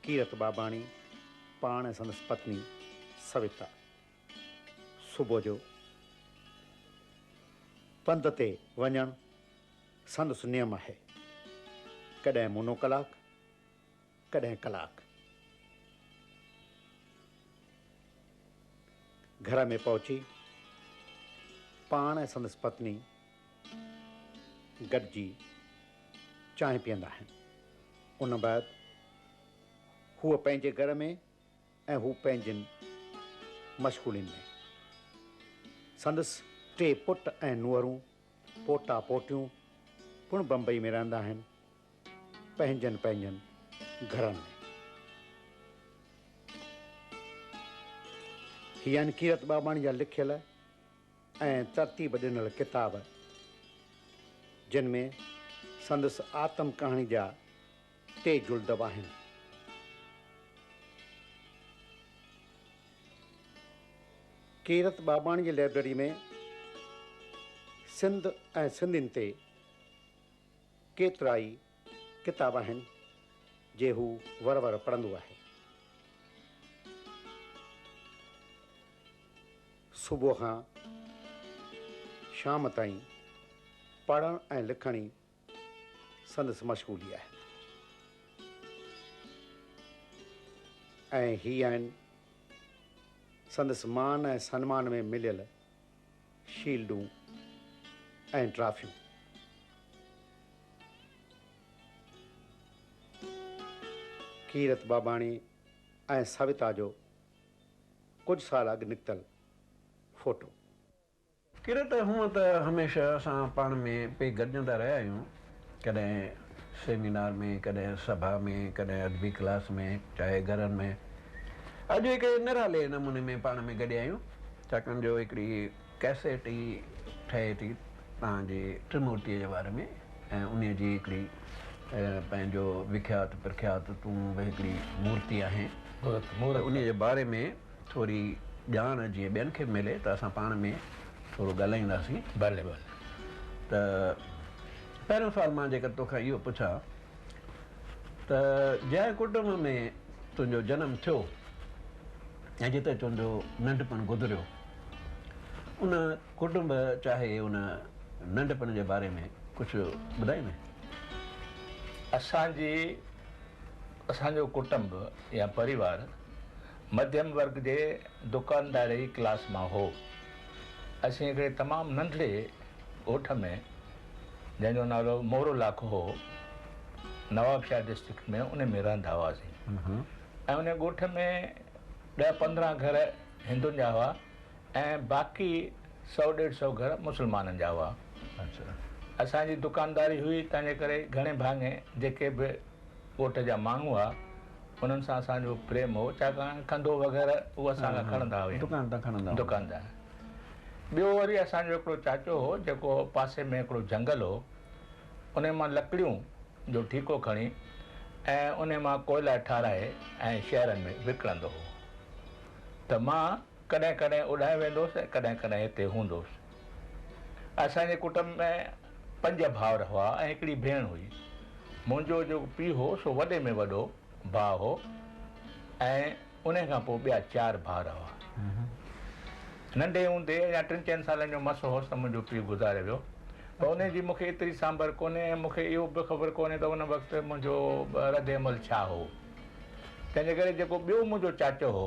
ڪيرت ٻاٻاڻي پاڻ ۽ سندس پتني سويتا صبح جو پنڌ تي وڃڻ سندس نيم آهي. ڪڏهن مونو ڪلاڪ. ڪڏهن ڪلاڪ گهر ۾ پهچي پاڻ ۽ سندس پتني گڏجي چانهه پيئندا آهن. ان بعد هوء پنهنجي گهر ۾ ۽ هو پنهنجين مشغولين ۾. سندس ٽي پٽ ۽ نوهرون پوٽا پوٽيون پڻ بمبئي ۾ رهندا آهن. پنهنجن پنهنجن گهرن ۾. هي آهن ڪيرت ٻاٻاڻي جا لکيل ۽ ترتيب ڏنل ڪتاب، جن ۾ سندس آتم ڪهاڻي جا ٽي جلد به آهن. ڪيرت ٻاٻاڻي جي لئبرري ۾ سنڌ ۽ سنڌين تي ڪيترائي ڪتاب آهن جي هو ور ور پڙهندو آهي. صبح کان شام تائين پڙهڻ ۽ لکڻ ئي سندس مشغولي آهي ۽ هي آهن سندس مان ۽ سنمان ۾ مليل شيلڊون ۽ ٽرافيون. ڪيرت باباڻي ۽ سويتا جو ڪجهه سال اڳ نڪتل فوٽو. ڪيرت، هونئن ته هميشه اسان پاڻ ۾ پئي گڏجندا رهيا آهيون، ڪڏهن سيمينار ۾، ڪڏهن سڀا ۾، ڪڏهن ادبي ڪلاس ۾، چاهي گهرن ۾. اڄ هڪ نرالي نموني ۾ پاڻ ۾ گڏيا آهيون، ڇاڪاڻ جو هڪڙي ڪيسيٽ ئي ٺهي ٿي توهان جي ٽرمورتيء جي باري ۾ ۽ انهيء جي هڪڙي پنهنجو وکيات پرکيات تون به هڪڙي مورتي آهين ته انهيء جي باري ۾. ٿوري ڄاڻ جيئن ٻين کي به ملي ته اسان پاڻ ۾ ٿورو ڳالهائينداسين. ڀلي ڀلي. ته پهريون سوال مان جيڪر تو کان اهو پڇان ته جنهن ڪٽنب ۾ تنهنجو جنم ٿيو ۽ جتي تنهنجو ننڍپڻ گذريو ان ڪٽنب چاهي ان ننڍپڻ جي باري ۾ ڪجهه ٻڌائيندين؟ اسان جي اسان جو ڪٽنب يا پريوار مڌيم ورگ جي دڪانداري ڪلاس مان هو. اسين هڪڙي تمام ننڍڙي ڳوٺ ۾، جنهن جو نالو مورو لاکو هو، نوابشاهه ڊسٽرڪٽ ۾ ان ۾ رهندا هئاسين ۽ ان ڳوٺ ۾ ڏهه پندرهن گهر هندن جا هئا ۽ باقي سؤ ڏيڍ سؤ گهر مسلمانن جا هئا. اسان جي دڪانداري هئي، تنهن جي ڪري گهڻي ڀاڱي جيڪي به ڳوٺ جا ماڻهو هئا، انهن سان اسان جو پريم هو، ڇاڪاڻ کنڌو وغيره اهو اسان کان کڻندا هيا. دڪان تان کڻندا هئا. دڪان تان. ٻيو وري اسان جو هڪڙو چاچو هو، جيڪو پاسي ۾ هڪڙو جهنگل هو، انهي مان لڪڙيون جو ٺيڪو کڻي ۽ انهي مان ڪوئلا ٺاهرائي ۽ شهرن ۾ وڪڻندو هو ته مان، ڪڏهن ڪڏهن اوڏانهن ويندوس ۽ ڪڏهن ڪڏهن هتي هوندوس. اسان جي ڪٽنب ۾ پنج ڀائر هئا ۽ هڪڙي ڀيڻ هئي. منهنجو جيڪو پيء هو سو وڏي ۾ وڏو ڀاء هو ۽ انهي کان پوء ٻيا چار ڀائر هئا. ننڍي هوندي اڃا ٽن چئن سالن جو مس هوس ته منهنجو پيء گذاري ويو. پر انهي جي مون کي ايتري سانڀر ڪونهي ۽ مون کي اهو به خبر ڪونهي ته ان وقت منهنجو رد عمل ڇا هو. تنهن جي ڪري جيڪو ٻيو منهنجو چاچو هو.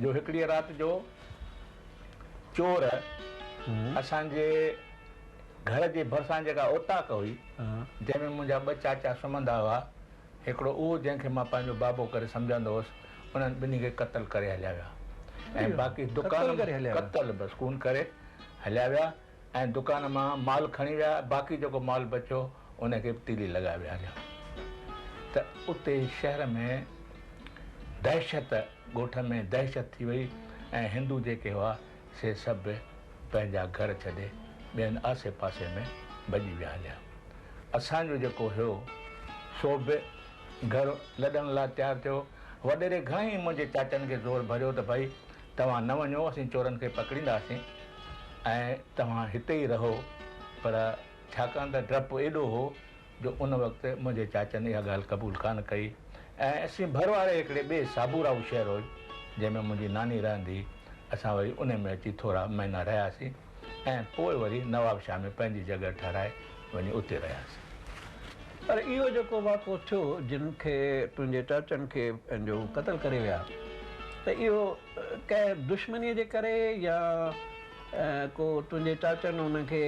جو هڪڙيء رات جو چور اسان جي گهر جي ڀرسان جيڪا اوطاق هئي، جنهن ۾ منهنجا ٻه چاچا سمهندا هئا، هڪڙو اهو جنهن کي مان پنهنجو بابو ڪري سمجهندو هوس، انهن ٻنهي کي قتل ڪري هليا ويا ۽ باقي دڪان قتل بس ڪون ڪري هليا ويا. ۽ دڪان مان مال کڻي ويا باقي جيڪو مال بچيو ان کي به تيلي لڳائي ويهاريو ته اتي شهر ۾ دهشت ڳوٺ ۾ دهشت ٿي وئي ۽ هندو جيڪي هئا سي سڀ پنهنجا گهر ڇڏي ٻين آسي پاسي ۾ ڀڄي ويا هليا اسان جو جيڪو هيو سو به گهر لڏڻ لاء تيار ٿيو وڏيري گهڻا ئي منهنجي چاچن کي زور ڀريو ته ڀائي توهان نه وڃو، اسين چورن کي پڪڙينداسين ۽ توهان هتي ئي رهو. پر ڇاڪاڻ ته ڊپ ايڏو هو جو ان وقت منهنجي چاچن اها ڳالهه قبول ڪانه ڪئي ۽ اسين ڀر واري هڪڙي ٻئي سابوراهو شهر هو جنهن ۾ منهنجي ناني رهندي هئي، اسان وري انهي ۾ اچي ٿورا مهينا رهياسين. ۽ پوء وري نوابشاهه ۾ پنهنجي جڳهه ٺهرائي وڃي اتي رهياسين. پر اهو جيڪو واقعو ٿيو جن کي تنهنجي چاچن کي پنهنجو قتل ڪري ويا ته اهو ڪنهن دشمنيء جي ڪري يا ڪو تنهنجي چاچن انهن کي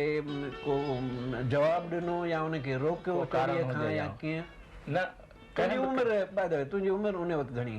ڪو جواب ڏنو يا انهن کي روڪيو چوريء کان يا ڪيئن؟ نه ڪنهن به. تنهنجي عمر باء دي وي تنهنجي عمر ان وقت گهڻي؟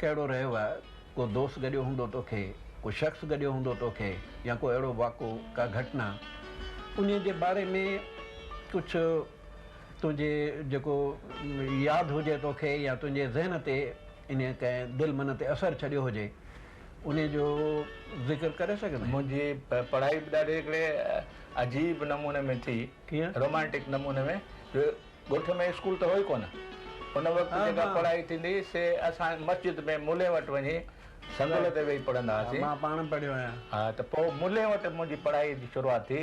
ڪهڙو رهيو آهي؟ ڪو دوست گڏيو هوندو توکي، ڪو شخص گڏيو هوندو توکي يا ڪو اهڙو واقعو، ڪا گهٽنا انهيء جي باري ۾ ڪجهه تنهنجي جيڪو ياد هجي توکي يا تنهنجي ذهن تي انهيء ڪنهن دل من تي اثر ڇڏيو هجي انهيء جو ذڪر ڪري سگهندين؟ منهنجي پڙهائي به ڏاڍي هڪڙي عجيب نموني ۾ ٿي. ڪيئن؟ رومانٽڪ نموني ۾ جو ڳوٺ ۾ اسڪول ته هو ئي ڪونه. ان وقت جيڪا پڙهائي ٿيندي هئي سي اسان مسجد ۾ ملي وٽ وڃي سنڌول تي ويهي پڙهندا هئاسين. مان پاڻ پڙهيو آهيان. ها ته پوء ملي وٽ منهنجي پڙهائي جي شروعات ٿي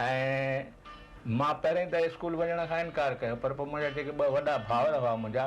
۽ مان پهرين ته اسڪول وڃڻ کان انڪار ڪيو پر پوء منهنجا جيڪي ٻه وڏا ڀائر هئا منهنجا.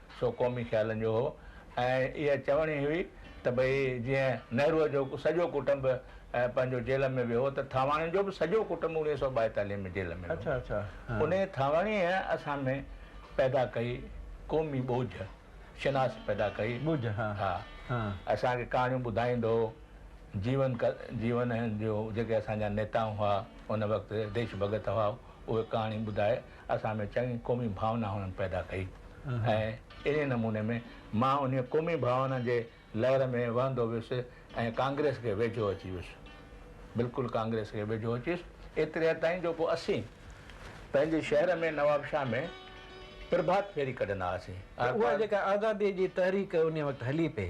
سو قومي خيالن جو هو ۽ اها چوڻي ئي هئي ته ڀئي جيئن نهروء جو سڄو ڪٽنب پنهنجو جيل ۾ ويو هو ته ٿانواڻين جو به سڄو ڪٽنب اڻويهه سؤ ٻائيتاليهه ۾ جيل ۾ ويو هو. انهيء ٿانواڻيء اسان ۾ پيدا ڪئي قومي ٻوجهه، شناس پيدا ڪئي. ها. اسان کي ڪهاڻيون ٻڌائيندو هو. جيون جيون جو جيڪي اسان جا نيتا هئا ان وقت ديش ڀڳت هئا اهي ڪهاڻي ٻڌائي اسان ۾ چڱي قومي ڀاونا هنن پيدا ڪئي ۽ انهي نموني ۾ مان انهي قومي ڀاونا جي لهر ۾ وهندو ويس ۽ ڪانگريس کي ويجهو اچي ويس بلڪل ڪانگريس کي ويجهو اچي ويس ايتري حد تائين جو پوء اسين پنهنجي شهر ۾ نوابشاهه ۾ پرڀات ڦيري ڪڍندا هئاسين اها جيڪا آزادي جي تحريڪ انهي وقت هلي پئي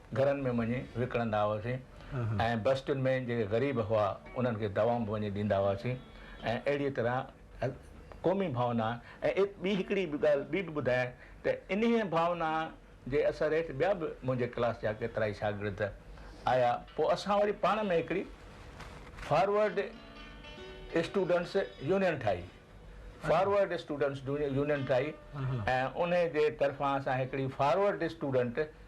گهرن ۾ وڃي وڪڻندا هئاسين ۽ بستين ۾ جيڪي غريب هئا انهن کي دوائون به وڃي ڏيندا هئاسين ۽ اهڙيء طرح قومي ڀاونا ۽ ٻي هڪڙي به ڳالهه ٻي به ٻڌايائين ته انهيء ڀاونا جي اثر هيٺ ٻيا به منهنجي ڪلاس جا ڪيترائي شاگرد آيا پوء اسان وري پاڻ ۾ هڪڙي فارورڊ اسٽوڊنٽس يونين ٺاهي فارورڊ اسٽوڊنٽس يونين ٺاهي ۽ انهيء جي طرفان اسان هڪڙي فارورڊ اسٽوڊنٽ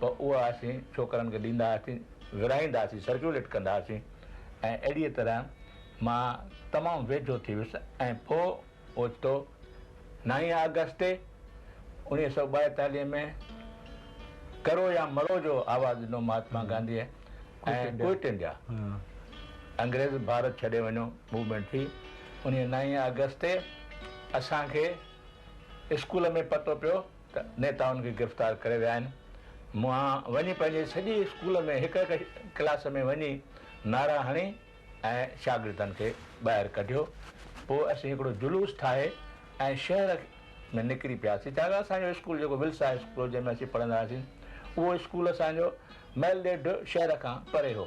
ته اها اسين ڇوڪرن کي ڏيندا هئاسين، ورهائيندا هئاسين، سرڪيوليٽ ڪندا هئاسين ۽ اهڙيء طرح مان تمام ويجهو ٿي ويس ۽ پوء اوچتو نائين آگسٽ اڻيهه سؤ ٻائيتاليهه ۾ ڪرو يا مرو جو آواز ڏنو مهاتما گانڌيء ۽ ڪوئٽ انڊيا انگريز ڀارت ڇڏي وڃو موومينٽ ٿي انهيء نائين آگسٽ تي اسان کي اسڪول ۾ پتو پيو ته نيتائن کي گرفتار ڪري ويا آهن. مونهان وڃي پنهنجي سڄي اسڪول ۾ هڪ هڪ ڪلاس ۾ وڃي نعرا هڻي ۽ شاگردن کي ٻاهر ڪڍيو. پوء اسين هڪڙو جلوس ٺاهي ۽ شهر ۾ نڪري پياسين. ڇاڪاڻ اسان جو اسڪول جيڪو ولس هاء اسڪول هو جنهن ۾ اسين پڙهندا هئاسين اهو اسڪول اسان جو مئل ڏيڍ شهر کان پري هو.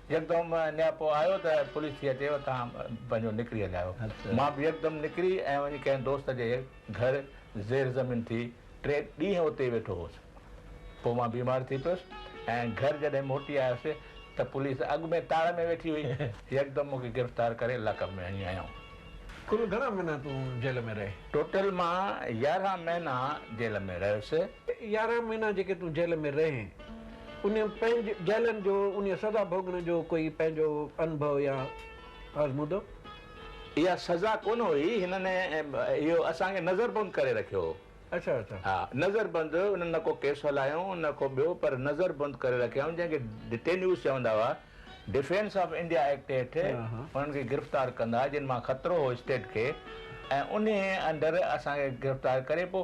يڪدم نياپو آيو ته پوليس ٿي اچي اتان پنهنجو نڪري هليا آيو. مان به يڪدم نڪري ۽ وڃي ڪنهن دوست جي گهر زير زمين ٿي ٽي ڏينهن اتي ئي ويٺو هوس. پوء مان بيمار ٿي پيس ۽ گهر جڏهن موٽي آيس ته پوليس اڳ ۾ تاڙ ۾ ويٺي هئي. يڪدم مون کي گرفتار ڪري لاڪ اپ ۾ هڻي هنيائون. ڪل گهڻا مهينا تون جيل ۾ رهي؟ ٽوٽل مان يارهن مهينا جيل ۾ رهيس. يارهن مهينا جيڪي تون جيل ۾ رهي. انهن پنهنج جهلن جو انهيء سزا ڀوڳڻ جو ڪوئي پنهنجو انڀو يا آزمودو؟ اها سزا ڪونه هئي، هنن اهو اسان کي نظر بند ڪري رکيو هو. اڇا اڇا. ها، نظر بند، انهن نه ڪو ڪيس هلايائون نه ڪو ٻيو پر نظر بند ڪري رکيائون جنهن کي ڊٽينيوز چوندا هئا، ڊفينس آف انڊيا ايڪٽ هيٺ انهن کي گرفتار ڪندا جن مان خطرو هو اسٽيٽ کي ۽ انهيء انڊر اسان کي گرفتار ڪري پوء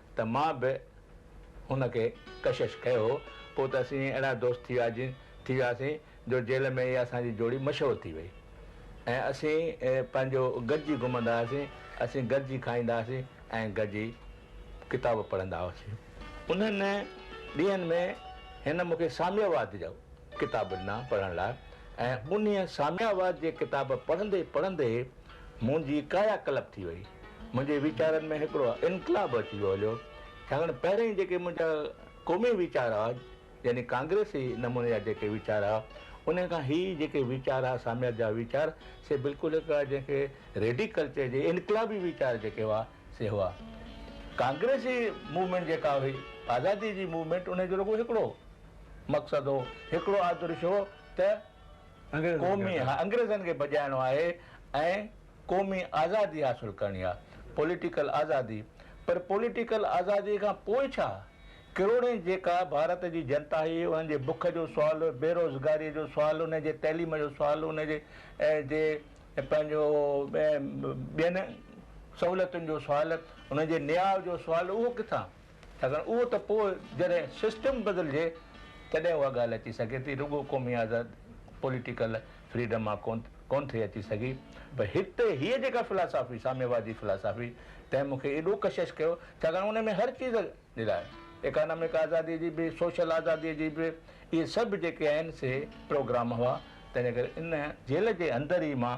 ته مان به هن کي ڪشش ڪيو، پوء ته اسين ائين اهڙا دوست ٿي وياسين ٿي وياسين جو جيل ۾ اها اسان جي جوڙي مشهور ٿي وئي ۽ اسين پنهنجو گڏجي گهمندا هئاسين، اسين گڏجي کائيندا هئاسين ۽ گڏجي ڪتاب پڙهندا هئاسين. انهن ڏينهن ۾ هن مون کي ساميا واد جا ڪتاب ڏنا پڙهڻ لاء ۽ انهيء ساميا واد جي ڪتاب پڙهندي پڙهندي، منهنجي ڪايا ڪلپ ٿي وئي. منهنجي ويچارن ۾ هڪڙو انقلاب اچي ويو هليو. ڇاڪاڻ پهرين جيڪي منهنجا قومي ويچار ها، يعني ڪانگريسي نموني جا جيڪي ويچار ها، انهي کان هي جيڪي ويچار ها ساميت جا ويچار، سي بلڪل هڪڙا جنهن کي ريڊيڪل چئجي، انقلابي ويچار جيڪي هئا، سي هئا. ڪانگريسي موومينٽ جيڪا هئي، آزادي جي موومينٽ، انهي جو رڳو هڪڙو مقصد هو، هڪڙو آدرش هو ته، قومي ها انگريزن کي ڀڄائڻو آهي ۽ قومي آزادي حاصل ڪرڻي آ پوليٽيڪل آزادي پر پوليٽيڪل آزادي کان پوء ڇا ڪروڙين جيڪا ڀارت جي جنتا هي انهن جي بک جو سوال بيروزگاري جو سوال انهن جي تعليم جو سوال انهن جي جي پنهنجو ٻين سهولتن جو سوال انهن جي نياء جو سوال اهو ڪٿان ڇاڪاڻ اهو ته پوء جڏهن سسٽم بدلجي تڏهن اها ڳالهه اچي سگهي ٿي رڳو قومي آزاد پوليٽيڪل فريڊم مان ڪونه ٿي اچي سگهي پر هتي هيء جيڪا فلاسافي ساميوادي فلاسافي تنهن مون کي ايڏو ڪشش ڪيو ڇاڪاڻ ان ۾ هر چيز جي لاء ايڪانامڪ آزادي جي به سوشل آزادي جي به اهي سڀ جيڪي آهن سي پروگرام هئا تنهنجي ڪري ان جيل جي اندر ئي مان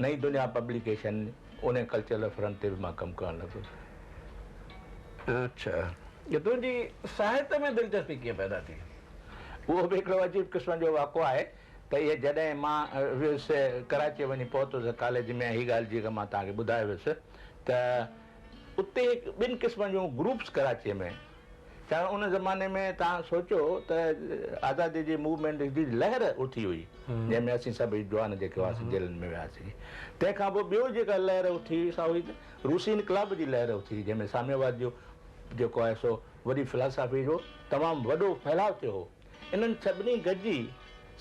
نئين دنيا پبليڪيشن انهي ڪلچرل فرنٽ تي به مان ڪم ڪرڻ لڳس. اڇا تنهنجي ساهت ۾ دلچسپي ڪيئن پيدا ٿي؟ اهو به هڪڙو عجيب قسم جو واقعو آهي ته اهي جڏهن مان ويس ڪراچيء وڃي پهتس ڪاليج ۾ هي ڳالهه جيڪا مان توهان کي ٻڌايو ويس ته اتي ٻن قسمن جون گروپس ڪراچيء ۾ ڄڻ ان زماني ۾ توهان سوچيو ته آزادي جي موومينٽ جي لهر اٿي هئي جنهن ۾ اسين سڀ جوان جيڪي هئاسين جيلن ۾ وياسين تنهن کان پوء ٻيو جيڪا لهر اٿي هئي سا هئي روسي انقلاب جي لهر اٿي هئي جنهن ۾ ساميواد جو جيڪو آهي سو وڏي فلاسافي جو تمام وڏو ڦهلاء ٿيو هو انهن سڀني گڏجي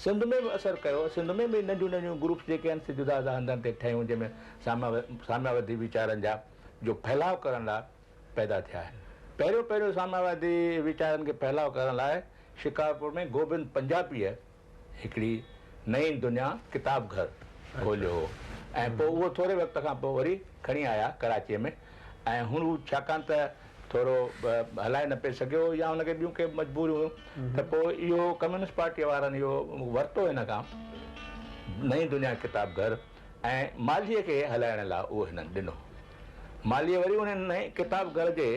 سنڌ ۾ به اثر ڪيو سنڌ ۾ به ننڍيون ننڍيون گروپس جيڪي آهن سي جدا جدا هنڌن تي ٺهيون جنهن ۾ ساميوادي ويچارن جا جو ڦهلاء ڪرڻ لاء پيدا ٿيا. پهريون پهريون سامياوادي ويچارن کي ڦهلاء ڪرڻ لاء شڪارپور ۾ گوبند پنجاپيء هڪڙي نئين دنيا ڪتاب گهر کوليو هو ۽ پوء اهو ٿوري وقت کان پوء وري کڻي آيا ڪراچيء ۾ ۽ هن هو ڇاڪاڻ ته ٿورو هلائي نه پئي سگهيو هو يا هن کي ٻيون ڪي مجبوريون هيون ته پوء اهو ڪميونسٽ پارٽيء وارن اهو ورتو هن کان نئين دنيا ڪتاب گهر. ۽ مالهيء کي هلائڻ لاء اهو هنن ڏنو. مالهيء وري انهن نئين ڪتاب گهر جي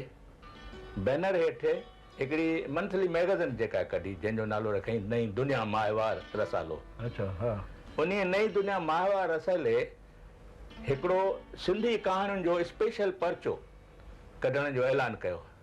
بينر هيٺ هڪڙي منٿلي مئگزين جيڪا ڪڍي، جنهن جو نالو رکيائين نئين دنيا ماهوار رسالو. انهيء نئين دنيا ماهوار رسالي هڪڙو سنڌي ڪهاڻين جو اسپيشل پرچو ڪڍڻ جو اعلان ڪيو.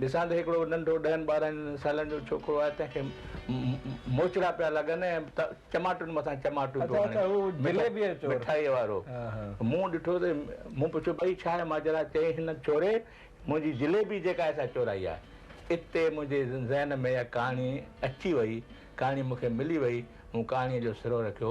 ڏسان ته هڪڙو ننڍو ڏهن ٻارهن سالن جو ڇوڪرو آهي، تنهن کي موچڙا پيا لڳن ۽ چماٽن مٿان چماٽون پيو هڻي، مٺائيء وارو مون ڏٺو ته مون پڇيو، ڀئي ڇا آهي ماجرا؟ چيائين، هن چوري منهنجي جليبي جيڪا آهي سا چورائي آهي. اتي منهنجي ذهن ۾ اها ڪهاڻي اچي وئي، ڪهاڻي مون کي ملي وئي، مون ڪهاڻيء جو سرو رکيو.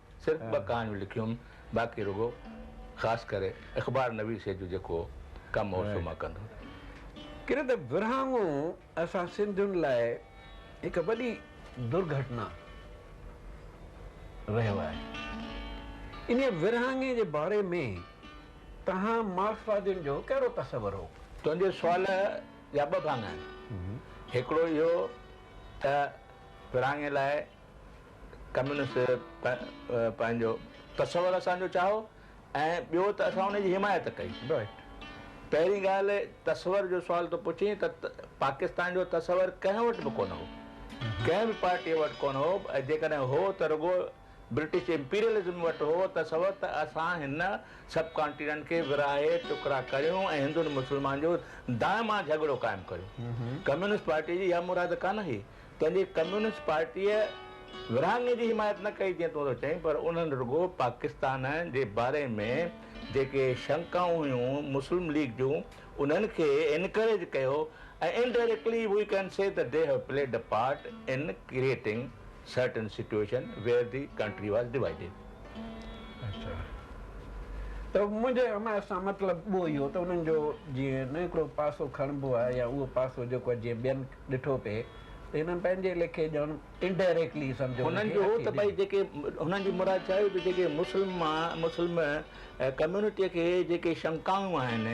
صرف ٻه ڪهاڻيون لکيون باقي رڳو خاص ڪري اخبار نويسيء جو جيڪو ڪم هو سو مان ڪندو رهيس. ڪڏهن ته ورهاڱو اسان سنڌين لاء هڪ وڏي درگهٽنا رهيو آهي. انهيء ورهاڱي جي باري ۾ توهان مارڪسوادين جو ڪهڙو تصور هو؟ تنهنجي سوال جا ٻه ڀاڱا آهن. هڪڙو اهو ته ورهاڱي لاء ڪميونسٽ پنهنجو تصور اسان جو چاهو ۽ ٻيو ته اسان ان جي حمايت ڪئي. پهرين ڳالهه تصور جو سوال تو پڇين ته پاڪستان جو تصور ڪنهن وٽ به ڪونه هو. ڪنهن به پارٽيء وٽ ڪونه هو ۽ جيڪڏهن هو ته رڳو برٽش امپيريلزم وٽ هو تصور ته اسان هن سب ڪانٽيننٽ کي ورهائي ٽڪرا ڪريون ۽ هندن مسلمانن جو دائما جهڳڙو قائم ڪريون. ڪميونسٽ پارٽيء جي اها مراد ڪانه هئي. تنهنجي ڪميونسٽ پارٽيء ورهاڱي جي حمايت نه ڪئي جيئن تون ٿو چئين پر انهن رڳو پاڪستان جي باري ۾ جيڪي شنڪائون هيون مسلم ليگ جون انهن کي انڪريج ڪيو ۽ indirectly we can see that they have played a part in creating certain situation where the country was divided. اچا ته منهنجي حمايت سان مطلب اهو ئي هو ته انهن جو جيئن نه هڪڙو پاسو کڻبو آهي يا اهو پاسو جيڪو آهي جيئن ٻين ڏٺو پئي ته هنن پنهنجي ليکي ڄڻ Indirectly سمجهه ۾ هنن جو هو ته ڀئي جيڪي هنن جي مراد ڇا هئي ته جيڪي مسلم مسلم ڪميونٽيء کي جيڪي شنڪائون آهن،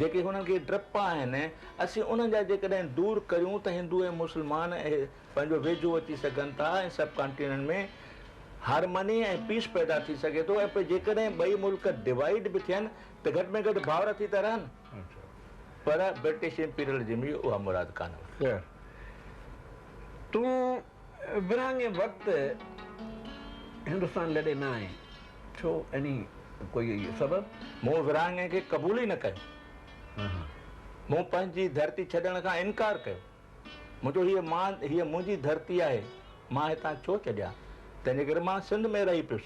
جيڪي هنن کي ڊپ آهن، اسين انهن جا جيڪڏهن دور ڪريون ته هندو ۽ مسلمان پنهنجو ويجهو اچي سگهن ٿا ۽ سب ڪانٽيننٽ ۾ هارمني ۽ پيس پيدا ٿي سگهي ٿو ۽ پوء جيڪڏهن ٻئي ملڪ ڊوائيڊ به ٿين ته گهٽ ۾ گهٽ ڀائر ٿي ته رهن. پر برٽش امپيرل جي ۾ اها مراد ڪانه هئي. خير، تون ورهاڱي وقت هندستان لڏي نه آئين، ڇو؟ يعني ڪوئي سبب؟ مون ورهاڱي کي قبول ئي نه ڪيو. مون پنهنجي ڌرتي ڇڏڻ کان انڪار ڪيو. منهنجو هيء مان، هيء منهنجي ڌرتي آهي، مان هتان ڇو ڇڏيان؟ تنهنجي ڪري مان سنڌ ۾ رهي پيس.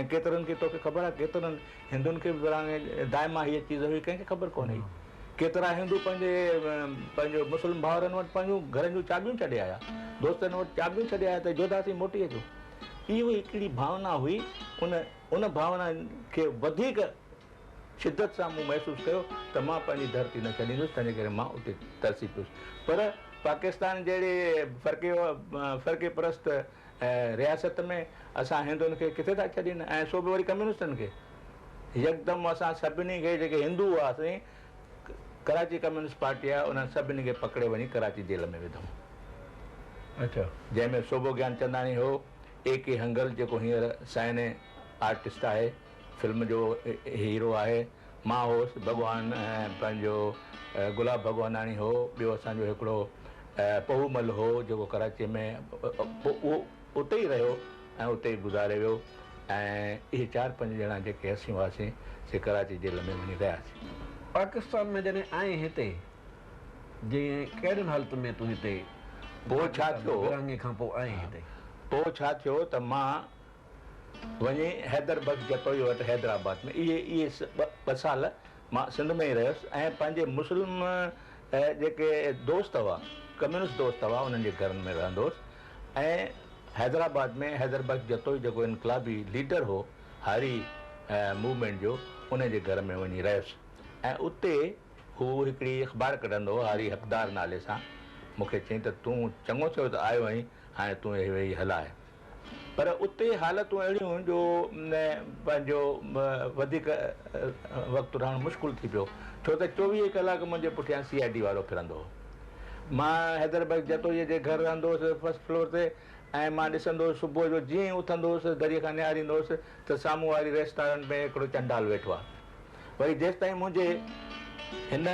۽ ڪيترن کي توکي خبر آهي ڪيترن هندن کي به وراڻي دائما هيء چيز هئي ڪنهن کي خبر ڪونه هئي ڪيترا هندو پنهنجي پنهنجو مسلم ڀائرن وٽ پنهنجون گهرن جون چاٻيون ڇڏي آيا دوستن وٽ چاٻيون ڇڏي آيا ته جوڌا سين موٽي اچو اهو هڪڙي ڀاونا هئي ان ان ڀاونا کي وڌيڪ شدت سان مون محسوس ڪيو ته مان پنهنجي ڌرتي نه ڇڏيندس تنهنجي ڪري مان اتي ترسي پيس پر پاڪستان جهڙي فرقي فرقي پرست ۽ رياست ۾ اسان هندن کي ڪٿي ٿا ڇڏين ۽ سو به وري ڪميونسٽن کي. يڪدم اسان سڀني کي جيڪي هندو هئاسين ڪراچي ڪميونسٽ پارٽي آيا انهن سڀني کي پڪڙي وڃي ڪراچي جيل ۾ وڌائون. اچا. جنهن ۾ سوڀو گيانچنداڻي هو، اي ڪي هنگل جيڪو هينئر سائني آرٽسٽ آهي. فلم جو هيرو آهي مان هوس ڀڳوان پنهنجو گلاب ڀڳواناڻي هو ٻيو اسان جو هڪڙو پهو مل هو جيڪو ڪراچي ۾ اهو اتي ئي رهيو ۽ اتي ئي گذاري ويو ۽ اهي چار پنج ڄڻا جيڪي اسين هئاسين سي ڪراچي جيل ۾ وڃي رهياسين. پاڪستان ۾ جڏهن آئين هتي جي ڪهڙين حالتن ۾ تون هتي پوء ڇا ٿيو ورهاڱي کان پوء آئين هتي. پوء ڇا ٿيو ته مان وڃي حيدر بخش جتوئيء وٽ حيدرآباد ۾ اهي اهي ٻه سال مان سنڌ ۾ ئي رهيس ۽ پنهنجي مسلم جيڪي دوست هئا، ڪميونسٽ دوست هئا، انهن جي گهرن ۾ رهندو هوس ۽ حيدرآباد ۾ حيدر بخش جتوئي جيڪو انقلابي ليڊر هو هاري موومينٽ جو، ان جي گهر ۾ وڃي رهيس ۽ اتي هو هڪڙي اخبار ڪڍندو هو هاري حقدار نالي سان، مون کي چيائين ته تون چڱو ٿيو ته آيو آهين، هاڻي تون اهي ويهي هلاء. پر اتي حالتون اهڙيون هيون جو پنهنجو وڌيڪ وقت رهڻ مشڪل ٿي پيو ڇو ته چوويهه ڪلاڪ منهنجي پٺيان سي آء ڊي وارو ڦرندو هو. مان حيدر بخش جتوئيء جي گهر رهندو هوس فرسٽ فلور تي ۽ مان ڏسندو هوس صبح جو جيئن ئي اٿندو هوس دريء کان نهاريندو هوس ته سامهون واري ريسٽارنٽ ۾ هڪڙو چنڊال ويٺو آهي وري جيستائين منهنجي هن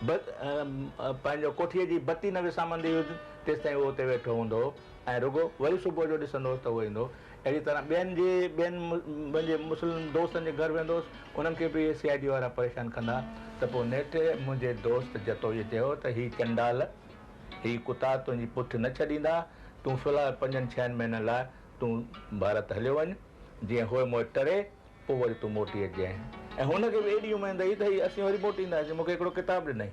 پنهنجو ڪوٺيء جي بتي نه وسامندي هيس تيستائين اهو اتي ويٺو هوندو هو. ۽ رڳو وري صبح جو ڏسندو هوس ته هو ايندو اهڙي طرح ٻين جي ٻين پنهنجي مسلم دوستن جي گهر ويندو هوس انهن کي به اهي سي آء ڊي وارا پريشان ڪندا ته پوء نيٺ منهنجي دوست جتوئيء چيو ته هي چنڊال هي ڪتا تنهنجي پٺ نه ڇڏيندا تون في الحال پنجن ڇهن مهينن لاء تون ڀارت هليو وڃ جيئن هوء موئي ٽري پوء وري تون موٽي اچجانء ۽ هن کي به ايڏي اميد هئي ته هي اسين وري موٽي اينداسين مون کي هڪڙو ڪتاب ڏنائين.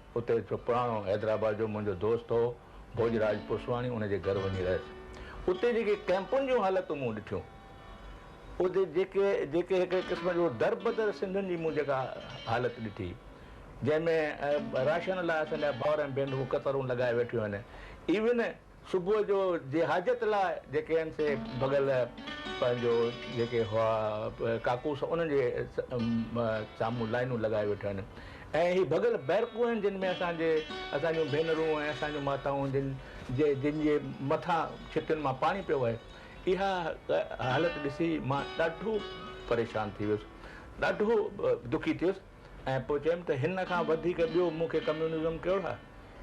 اتي هڪ پراڻو حيدرآباد جو منهنجو دوست هو ڀوڄراج پوسواڻي ان جي گهر وڃي رهيس. اتي جيڪي ڪئمپن جون حالتون مون ڏٺيون اتي جيڪي جيڪي هڪڙي قسم جو دربدر سنڌين جي مون جيڪا حالت ڏٺي جنهن ۾ راشن لاء اسان جا ڀائر ۽ ڀينرون قطارون لڳائي ويٺيون آهن ايون صبح جو جي حاجت لاء جيڪي هن سي ڀڳل پنهنجو جيڪي هئا ڪاڪوس انهن جي سامهون لائنون لڳائي ويٺا آهن ۽ هي ڀڳل بيرڪون آهن جن ۾ اسان جي اسان جون ڀينرون ۽ اسان جون ماتائون جن جي جن جي مٿان ڇتين مان پاڻي پيو وهي اها حالت ڏسي مان ڏاڍو پريشان ٿي ويس ڏاڍو دکي ٿيس ۽ پوء چيم ته هن کان وڌيڪ ٻيو مون کي ڪميونزم ڪهڙو آهي؟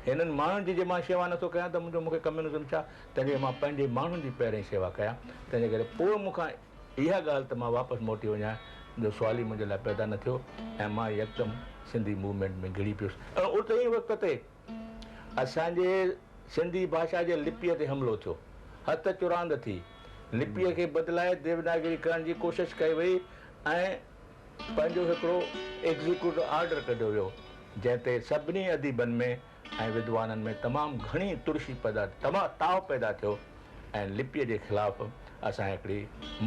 هنن ماڻهن جي جي مان شيوا نه ٿو ڪيان ته منهنجو مون کي ڪميونزم ڇا؟ تنهن جي مان پنهنجي ماڻهن جي پهرين شيوا ڪيان، تنهن جي ڪري پوء مون کان اها ڳالهه ته مان واپس موٽي وڃان جو سوال ئي منهنجي لاء پيدا نه ٿيو ۽ مان يڪدم سنڌي موومينٽ ۾ گهڙي پيس ۽ اتي ئي وقت تي اسان جي سنڌي ڀاشا جي لپيء تي حملو ٿيو، هٿ چراند ٿي، لپيء کي بدلائي ديوناگري ڪرڻ جي ڪوشش ڪئي وئي ۽. پنهنجو هڪڙو ايگزيڪيوٽو آرڊر ڪڍيو ويو، جنهن تي سڀني اديبن ۾ ۽ ودوانن ۾ تمام گهڻي ترشي پيدا تاء پيدا ٿيو ۽ لپيء جي خلاف اسان هڪڙي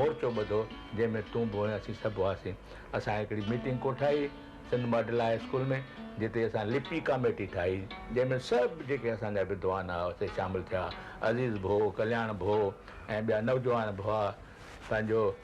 مورچو ٻڌو، جنهن ۾ تون به هئين، اسين سڀ هئاسين. اسان هڪڙي ميٽنگ ڪوٺائي سنڌ ماڊل هاء اسڪول ۾، جتي اسان لپي ڪاميٽي ٺاهي، جنهن ۾ سڀ جيڪي اسان جا ودوان ها، سي شامل ٿيا. عزيز ڀو، ڪلياڻ ڀو ۽ ٻيا نوجوان ڀئا پنهنجو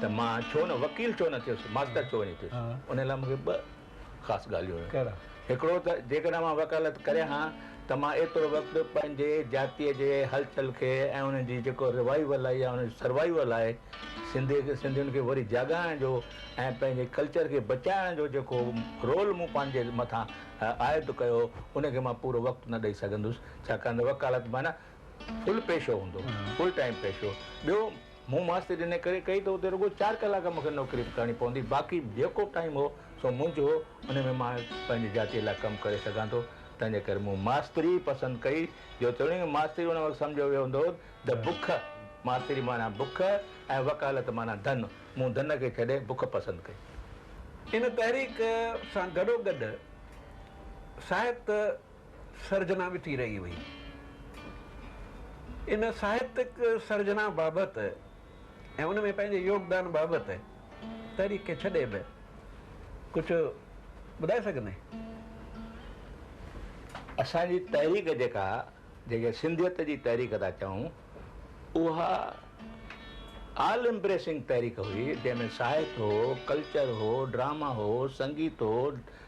ته مان ڇو نه وڪيل ڇو نه ٿيس، ماستر ڇو نه ٿيس، ان لاء مون کي ٻه خاص ڳالهيون هيون. ڪهڙا؟ هڪڙو ته جيڪڏهن مان وڪالت ڪريان ها ته مان ايترو وقت پنهنجي جاتيء جي هلچل کي ۽ ان جي جيڪو روائيول آهي يا ان جو سروائيول آهي، سنڌي کي سنڌين کي وري جاڳائڻ جو ۽ پنهنجي ڪلچر کي بچائڻ جو جيڪو رول مون پنهنجي مٿان عائد ڪيو ان کي مان پورو وقت نه ڏئي سگهندس ڇاڪاڻ ته وڪالت معنيٰ فل پيشو هوندو فل ٽائيم پيشو ٻيو مون ماستري ان ڪري ڪئي ته اتي رڳو چار ڪلاڪ مون کي نوڪري به ڪرڻي پوندي باقي جيڪو ٽائيم هو سو منجهه هو ان ۾ مان پنهنجي جاتي لاء ڪم ڪري سگهان ٿو تنهنجي ڪري مون ماستري ئي پسند ڪئي جو توڻي ماستري ان وقت سمجهيو ويو هوندو ته بک ماستري معنيٰ بک ۽ وڪالت معنيٰ ڌن مون ڌن کي ڇڏي بک پسند ڪئي. ان تحريڪ سان گڏوگڏ ساهت. سرجنا به ٿي رهي هئي. ان ساهتڪ سرجنا بابت ۽ ان ۾ پنهنجي يوگدان بابت تحريڪ کي ڇڏي به ڪجهه ٻڌائي سگهندين؟ اسان جي تحريڪ جيڪا جنهن کي سنڌيت جي تحريڪ ٿا چئون اها آل امپريسنگ تحريڪ هئي جنهن ۾ ساهت هو، ڪلچر هو، ڊراما هو، سنگيت هو،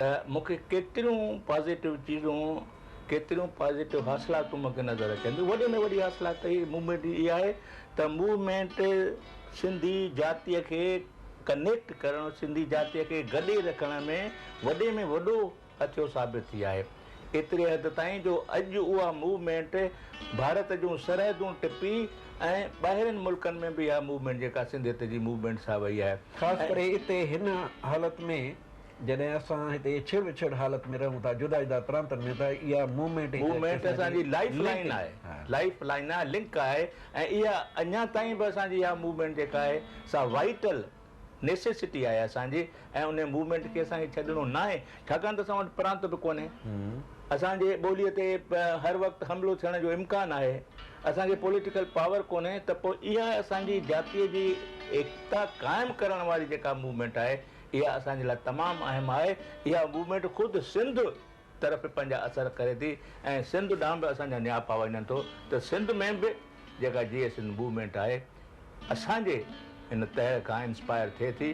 ته مون کي ڪيتريون پازيٽو چيزون ڪيتريون پازيٽو حاصلاتون مون کي نظر اچن ٿيون وڏي ۾ وڏي حاصلات هي موومينٽ جي اها آهي ته موومينٽ سنڌي جاتيء کي ڪنيڪٽ ڪرڻ سنڌي جاتيء کي گڏي رکڻ ۾ وڏي ۾ وڏو هٿيو ثابت ٿي آهي ايتري حد تائين جو اڄ اها موومينٽ ڀارت جون سرحدون ٽپي ۽ ٻاهرين ملڪن ۾ به اها موومينٽ جيڪا سنڌيت جي موومينٽ سا وئي آهي خاص ڪري اتي هن حالت ۾ جڏهن اسان هتي ڇڙ وڇڙ حالت ۾ رهون ٿا جدا جدا پرانتن ۾ ته اها موومينٽ هڪ موومينٽ اسان جي لائيف لائين آهي لائيف لائين آهي لنڪ آهي ۽ اها اڃا تائين به اسان جي اها موومينٽ جيڪا آهي سا وائيٽل نيسيسٽي آهي اسان جي ۽ ان موومينٽ کي اسان کي ڇڏڻو ناهي ڇاڪاڻ ته اسان وٽ پرانت به ڪونهي اسان جي ٻوليء تي هر وقت حملو ٿيڻ جو امڪان آهي اسان کي پوليٽيڪل پاور ڪونهي ته پوء اها اسان جي جاتيء جي ايڪتا قائم ڪرڻ واري جيڪا موومينٽ آهي اها اسان جي لاء تمام اهم آهي. اها موومينٽ خود سنڌ طرف به پنهنجا اثر ڪري ٿي ۽ سنڌ ڏانهن به اسان جا نياپا وڃن ٿو ته سنڌ ۾ به جيڪا جيئي سنڌ موومينٽ آهي اسان جي ان تهه کان انسپائر ٿئي ٿي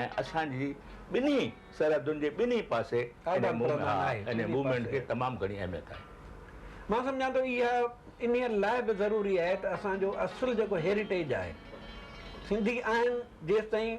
۽ اسان جي ٻنهي سرحدن جي ٻنهي پاسي ان موومينٽ کي تمام گهڻي اهميت آهي. مان سمجهان ٿو اها انهي لاء به ضروري آهي ته اسان جو اصل جيڪو هيريٽيج آهي سنڌي آهن جيستائين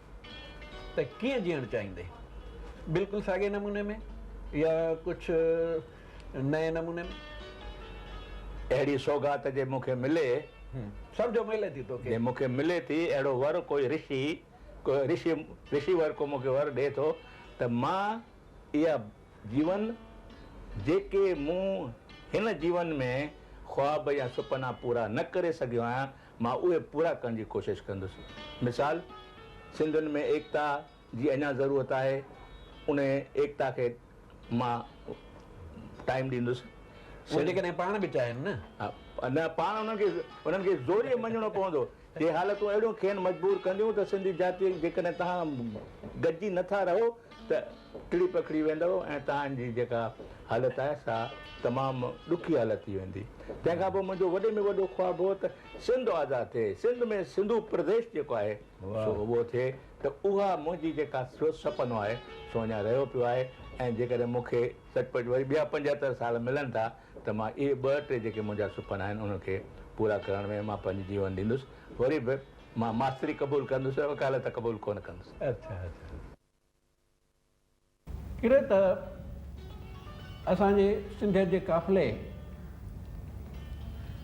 ته ڪيئن جيئڻ چاهيندي؟ بلڪل ساڳئي نموني ۾ يا ڪجهه نئين نموني ۾؟ اهڙي سوغات جي مون کي ملي. سمجهو ملي ٿي توکي. جي مون کي ملي ٿي اهڙو ور ڪوئي رشي، ڪوئي رشي، رشي ور ڪو مون کي ور ڏئي ٿو ته مان اها جيون جيڪي مون هن جيون ۾ خواب يا سپنا پورا نه ڪري سگهيو آهيان، مان اهي پورا ڪرڻ جي ڪوشش ڪندس. مثال، سنڌين ۾ ايڪتا جي اڃا ضرورت آهي، انهيء ايڪتا کي مان ٽائيم ڏيندس. اهي جيڪڏهن پاڻ به چاهين نه. نه، پاڻ انهن کي انهن کي زوريء مڃڻو پوندو. هي حالتون اهڙيون کين مجبور ڪنديون ته سنڌي جاتيء جيڪڏهن توهان گڏجي نه ٿا رهو ته ٽڙي پکڙي ويندؤ ۽ توهان جي جيڪا حالت آهي سا تمام ڏکي حالت ٿي ويندي. تنهن کان پوء منهنجو وڏي ۾ وڏو خواب هو ته سنڌ آزاد ٿئي، سنڌ ۾ سنڌو پرديش جيڪو آهي سو اهو ٿئي ته اها منهنجي جيڪا سو سپنو آهي سو اڃا رهيو پيو آهي ۽ جيڪڏهن مون کي سچ پچ وري ٻيا پنجهتر سال ملن ٿا ته مان اهي ٻه ٽي جيڪي منهنجا سپنا آهن انهن کي پورا ڪرڻ ۾ مان پنهنجي جيون ڏيندس وري به مان ماستري قبول ڪندس وڪالت قبول ڪونه ڪندس. ڪري ته اسان جي سنڌيت جي قافلي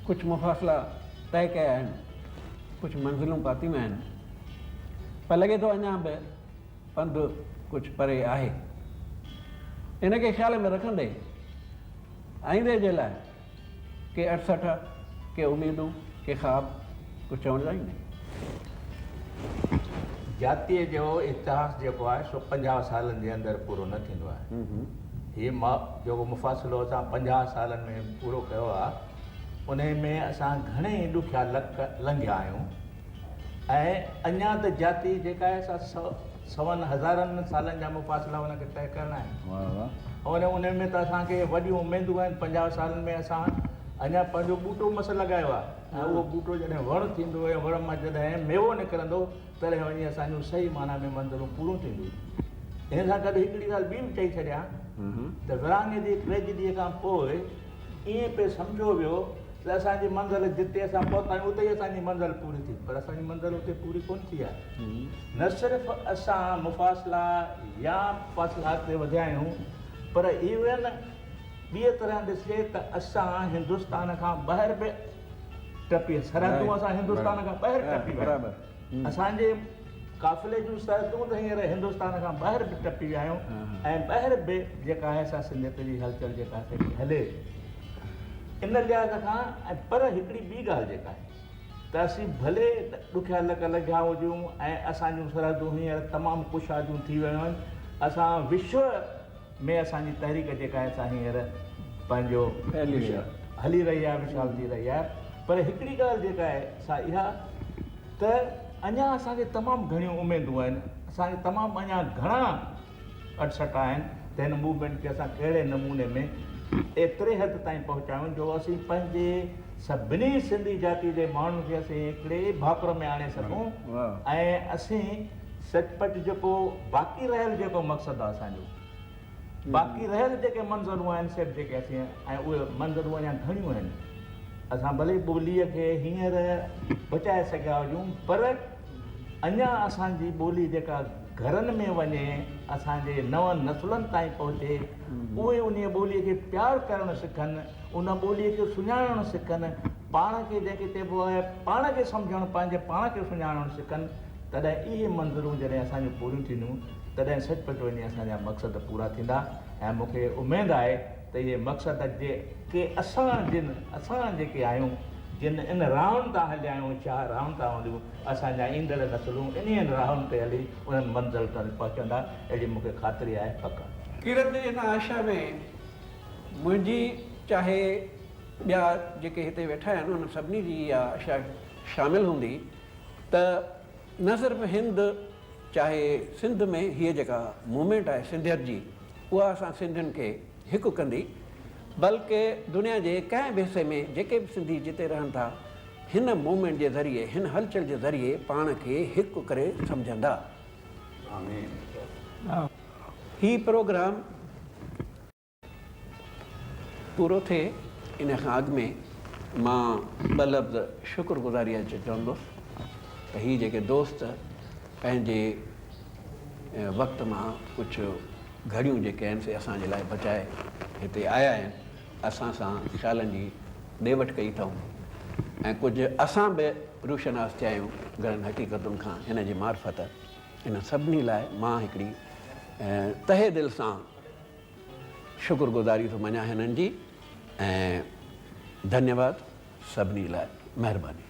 ڪجهه مفاصلا طئي ڪيا آهن، ڪجهه منزلون پاتيون آهن، پر لڳي ٿو اڃا به پنڌ ڪجهه پري آهي. ان کي خيال ۾ رکندي آئيندي جي لاء ڪي اڙسٺا، ڪي اميدون، ڪي خواب، ڪجهه چوڻ جا ئي ناهن. جاتيء جو اتهاس جيڪو آهي سو پنجاهه سالن جي اندر پورو نه ٿيندو آهي. هي جيڪو مفاصلو اسان پنجاهه سالن ۾ پورو ڪيو آهي، انهيء ۾ اسان گهڻي ئي ڏکيا لڪ لنگهيا آهيون ۽ اڃا ته جاتي جيڪا آهي سا سون هزارن سالن جا مفاصلا ان کي طئي ڪرڻا آهن. واهه واهه. ۽ انهن ۾ ته اسان کي وڏيون اميدون آهن. پنجاهه سالن ۾ اسان اڃا پنهنجو ٻوٽو مس لڳايو آهي ۽ اهو ٻوٽو جڏهن وڻ ٿيندو ۽ وڻ مان جڏهن ميوو نڪرندو تڏهن وڃي اسان جون صحيح معنيٰ ۾ منزلون پوريون ٿينديون. ان سان گڏ هڪڙي ڳالهه ٻي به چئي ڇڏيان ته ورهاڱي جي ٽريجڊيء کان پوء ائين پئي سمجهيو ويو ته اسان جي منزل جتي اسان پهتا آهيون اتي ئي اسان جي منزل پوري ٿي پر اسان جي منزل اتي پوري ڪونه ٿي آهي نه صرف اسان مفاصلا يا فاصلا اڳتي وڌيا آهيون پر ايون ٻي طرح ڏسجي ته اسان هندستان کان ٻاهر به ٽپي سرحدون اسان هندستان کان ٻاهر ٽپي ويا اسان جي قافلي جون سرحدون ته هينئر هندستان کان ٻاهر به ٽپي ويا آهيون ۽ ٻاهر به جيڪا آهي سا سنڌيت جي هلچل جيڪا آهي سا هلي ان لحاظ کان ۽ پر هڪڙي ٻي ڳالهه جيڪا آهي ته اسين ڀلي ڏکيا لڪ لگهيا هجون ۽ اسان جون سرحدون هينئر تمام ڪشاديون ٿي ويون آهن اسان وشو ۾ اسان جي تحريڪ جيڪا آهي سا هينئر پنهنجو هلي رهي آهي مشال ٿي رهي آهي پر هڪڙي ڳالهه جيڪا آهي سا اها ته اڃا اسان کي تمام گهڻيون اميدون آهن اسان کي تمام اڃا گهڻا اٽسٽا آهن ته هن موومينٽ کي اسان ڪهڙي نموني ۾ ايتري حد تائين پهچايون جو اسين پنهنجي سڀني سنڌي جاتي جي ماڻهن کي اسين هڪڙي ڀاڪر ۾ آڻي سگهون ۽ اسين سچ پچ جيڪو باقي رهيل جيڪو مقصد آهي اسان جو، باقي رهيل جيڪي منظرون آهن سيٽ جيڪي اسين ۽ اهي منظرون اڃا گهڻيون آهن. اسان ڀلي ٻوليء کي هينئر بچائي سگهيا هجون پر اڃا اسان جي ٻولي جيڪا گهرن ۾ وڃي اسان جي نون نسلن تائين پهچي اهي انهيء ٻوليء کي پيار ڪرڻ سکن، ان ٻوليء کي سڃاڻڻ سکن، پاڻ کي جنهن کي چئبو آهي پاڻ کي سمجهڻ پنهنجي پاڻ کي سڃاڻڻ سکن تڏهن اهي منظرون جڏهن اسان جون پوريون ٿينديون تڏهن سچ پچ وڃي اسان جا مقصد پورا ٿيندا ۽ مون کي اميد آهي ته اهي مقصد جي ڪي اسان جن اسان جيڪي آهيون جن ان راهن تان هليا آهيون شاهه راهن تان هليون اسان جا ايندڙ نسلون انهين راهن تي هلي انهن منزل تائين پهچندا اهڙي مون کي خاطري آهي پڪ آهي. ڪرت جي ان آشا ۾ منهنجي چاهي ٻيا جيڪي هتي ويٺا آهن انهن سڀني جي اها آشا شامل هوندي. ته نه صرف هند چاهي سنڌ ۾ هيء جيڪا موومينٽ آهي سنڌيت جي اها اسان سنڌين کي هڪ ڪندي بلڪ دنيا جي ڪنهن به حصي ۾ جيڪي به سنڌي جتي رهن ٿا هن موومينٽ جي ذريعي هن هلچل جي ذريعي پاڻ کي هڪ ڪري سمجهندا. آمين. هي پروگرام. پورو ٿئي ان کان اڳ ۾ مان ٻه لفظ شڪر گذاريء جو چوندس ته هي جيڪي دوست پنهنجي وقت مان ڪجهه گهڙيون جيڪي آهن سي اسان جي لاء بچائي هتي آيا آهن اسان سان خيالن جي ڏي وٺ ڪئي اٿائون ۽ ڪجهه اسان به روشناس ٿيا آهيون گهڻن حقيقتن کان هن جي معرفت ان سڀني لاء مان هڪڙي تهه دل سان شڪر گذاري ٿو مڃان هنن جي ۽ ڌنيواد سڀني لاء مهرباني.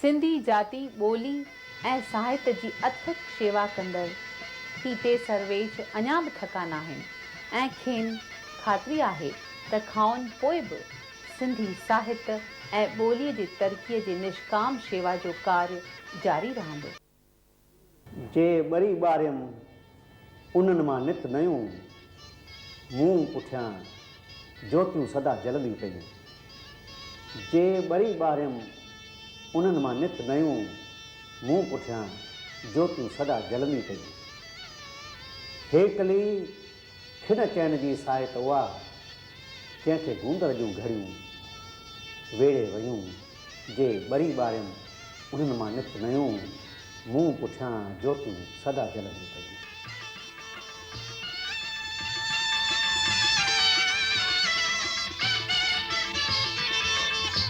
سنڌي جاتي ٻولي ۽ ساهت جي اٿڪ شيوا ڪندڙ پي ٽي سرويچ اڃا به ٿڪا ناهن ۽ کين خاطري آهي ته کائن پوء به سنڌي ساهت ۽ ٻولي جي ترقي جي نشڪام شيوا جو ڪارج جاري رهندو. جي ٻري ٻاريم، انهن مان نت نيون، مون پٺيان جوتيون سدا جلنديون پيون. جي ٻري ٻاريم، انهن مان نت نيون، مون پٺيان جوتيون سدا جلنديون پيون. هيڪلي! کن چئن جي ساعت اها، جنهن کي گوندڙ جون گهڙيون ويڙهي ويون، جي ٻري ٻاريم، انهن مان نت نيون، مون پٺيان جوتيون سدا جلنديون پيون.